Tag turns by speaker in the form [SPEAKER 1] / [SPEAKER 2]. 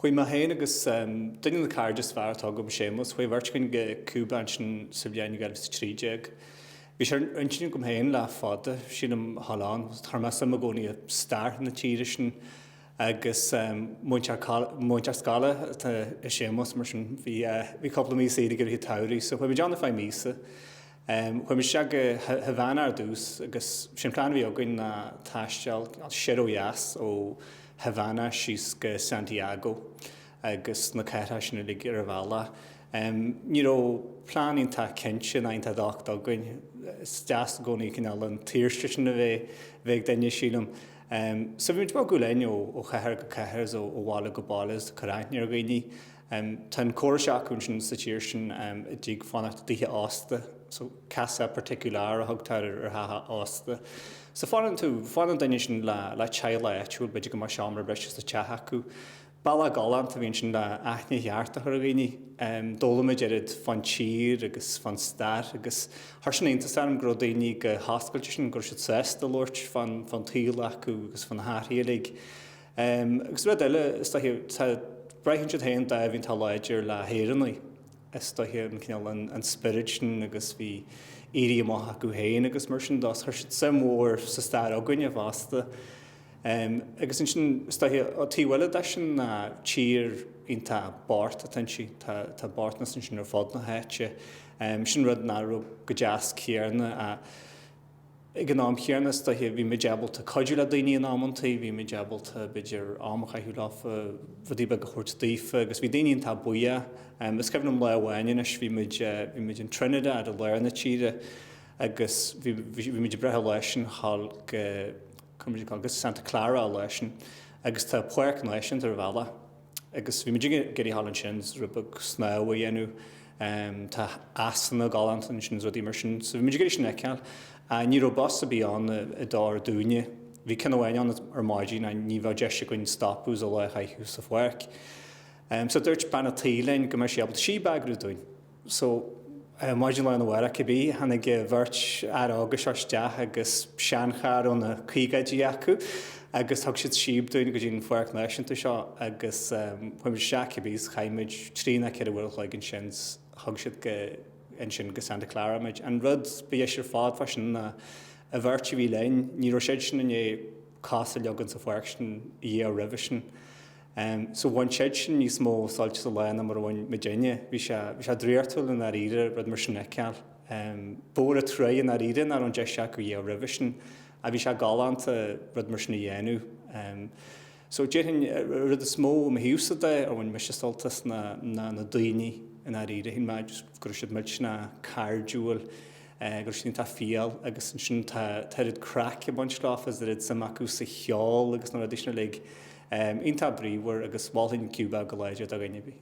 [SPEAKER 1] Chuaigh mé féin agus duine de na cairde is fearr atá agam, Séamus, chuaigh an bheirt againn go Cúba ansin sa bhliain 2013. Bhí sé ar intinn agam féin le fada, sílim, a ghoil ann. Chuir mé suim i gcónaí i stair na tíre sin agus múinteoir scoile atá i Séamus mar sin bhí cúpla mí saoire aige i rith an tsamhraidh so chuaigh muid ann ar feadh míosa. Chuaigh muid isteach go Havana ar dtús agus sin an plean a bhí againn ná taisteal soir ó dheas ó Havana síos go Santiago agus na cathracha sin uilig ar an bhealach. Ní raibh plean iontach cinnte ná iontach docht againn. Is deas i gcónaí cineál an tsaoirse sin a bheith ag duine, sílim. So bhí muid ag bogadh linn ó chathair go cathair is ó bhaile go baile is ag cur aithne ar dhaoine. Tá an córas seo acu ansin sa tír sin i dtaobh fanacht i dtithe ósta. So casa particular a thugtar ar theach ósta. So fanann tú, fanann duine sin le le teaghlach áitiúil, b'fhéidir go mbeadh seomra breise sa teach acu. Bealach galánta a bhí ansin le aithne cheart a chur ar dhaoine. D'fhoghlaim muid oiread fán tír agus fán stair agus chuir sin iontas orm go raibh daoine chomh hoscailte sin, go raibh siad sásta labhairt fán tsaol acu agus fá na hathruithe uilig. Agus rud eile, is dóiche, tá, braitheann siad féin dáimh iontach láidir le hÉireannaigh, is dóiche, an cineál, an, an spirit sin agus bhí éirí amach acu féin agus mar sin de, so chuir siad suim mhór sa stair s'againne fosta. Agus ansin, is dóiche, an taobh eile de sin ná tír iontach bocht atá ansin, tá, tá bochtanas ansin ar fud na háite. Sin rud nach raibh go deas, céarna, ach. Ag an am chéanna is dóiche bhí muid ábalta cuidiú le daoine in amanntaí, bhí muid ábalta b'fhéidir am a chaitheamh leofa, rudaí beaga a thabhairt daofa agus bhí daoine iontach buíoch. Is cuimhin liom lá amháin anois bhí muid, bhí muid in Trinidad i lár na tíre agus bhí, bhí muid ag brath an lá sin a ghoil go, go Santa Clara an lá sin agus tá páirc náisiúnta ar an bhealach. Agus bhí muid ag iarraidh a ghoil ansin rud beag snámh a dhéanamh. Tá easanna galánta ansin is rudaí mar sin. So bhí muid ag iarraidh sin a fheiceáil. Ach ní raibh bus ar bith ann a d'fhóir dúinne. Bhí ceann amháin ann ar maidin ach ní bheadh deis againn stopadh is an lá a chaitheamh sa pháirc. So dúirt bean a' tí linn go mbeadh sí ábalta síob a eagrú dúinn. So, maidin lá arna mhárach cibé, tháinig an bheirt fhear óga seo isteach agus seancharr ó na caogáidí acu agus thug siad síob dúinn go dtí an Pháirc Náisiúnta seo agus chuaigh muid isteach cibé is chaith muid trí ná ceithre uair an chloig ansin 's thug siad go, ansin go Santa Clara muid. An rud ba dheise ar fad fá sin ná an bheirt a bhí linn, ní raibh siadsean i ndiaidh cos a leagan sa pháirc sin ariamh roimhe sin. Em, so bhain siad sin níos mó sult as a lá ná mar a bhain muidinne. Bhí sé, bhí sé draíochtúil i ndáiríre rud mar sin a fheiceáil. Em, ba mhór an truaighe i ndáiríre nach raibh an deis acu é a dhéanamh roimhe sin. Ach bhí sé galánta rud mar sin a dhéanamh. Em, so déarfainn, an rud is mó i mo thaobhsa de a bhain mise sult as ná, ná na daoine i ndáiríre. Shíl mé just go raibh siad millteanach cairdiúil. Agus ansin tá fial agus ansin tá a oiread craic ag baint leo agus oiread suim acu sa cheol agus na rudaí sin uilig. Iontach bríomhar agus mholfainn Cuba go láidir do dhuine ar bith.